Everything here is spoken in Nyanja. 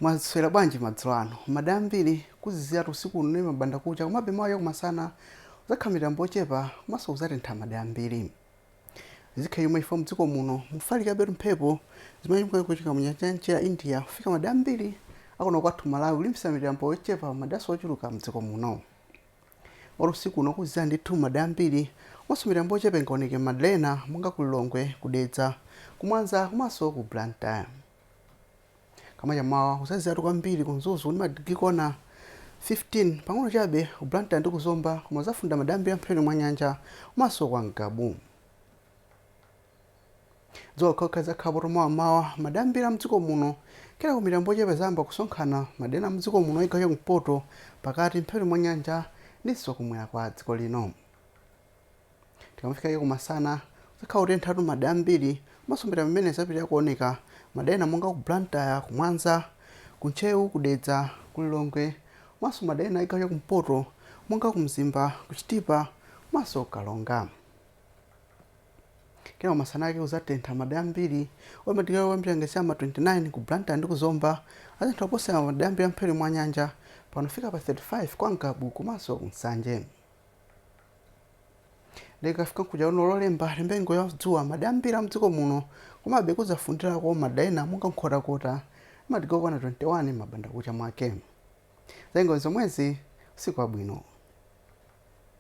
mwaswera bwanji madzulo ano madera ambiri kuziziratu usiku uno ndi mabanda kucha komabe mawa cha kumasana kuzakhala mitambo yochepa komanso kuzatentha madera ambiri zikhala chomwechi chifukwa mdziko muno mufalikabetu mphepo zimene chimwe kuchokera mu nyanja yamchere ya india kufika madera ambiri akuno kwathu malawi kulimbisa mitambo yochepa maderanso ochuluka mdziko muno Olo usiku uno kuzizira ndithu m'madera ambiri komanso mitambo yochepa ingaoneke m'madera ena monga ku Lilongwe, ku Dedza, ku Mwanza komanso ku Blantyre. Koma cha m'mawa kuzaziziratu kwambiri ku Mzuzu ndi madigiri okwana 15 pang'ono chabe ku Blantyre ndi ku Zomba koma kuzafunda madera ambiri a mphepete mwa nyanja komanso kwa Ngabu. Dzuwa lokhaokha lidzakhalapotu mawa m'mawa m'madera ambiri a m'dziko muno. Kenako mitambo yochepa idzayamba kusonkhana m'madera ena a m'dziko muno a chigawo cha kumpoto, pakati, mphepete mwa nyanja ndinso kumwera kwa dziko lino. Tikamafika kumasana, kudzakhala kotenthatu m'madera ambiri komanso mitambo imeneyi idzapitirira kuoneka m'madera ena monga ku Blantyre, ku Mwanza, ku Ntcheu, ku Dedza, ku Lilongwe komanso m'madera ena a chigawo cha kumpoto monga ku Mzimba, ku Chitipa komanso ku Karonga. Kenako masana ake kudzatentha m'madera ambiri. Koma madigiri kuyambira ngati cha m'ma 29 ku Blantyre ndi ku Zomba, adzatentha kuposera madera ambiri a m'mphepete mwa nyanja, pano kufika pa 35 kwa Ngabu komanso ku Nsanje. Ndiye tikafika mkuja uno Lolemba, tiyembekeze nyengo ya dzuwa m'madera ambiri a m'dziko muno. Komabe kudzafundirako m'madera ena monga Nkhotakota ndi madigiri okwana 21 m'mabandakucha mwake. Za nyengo ndi zomwezi. Usiku wabwino.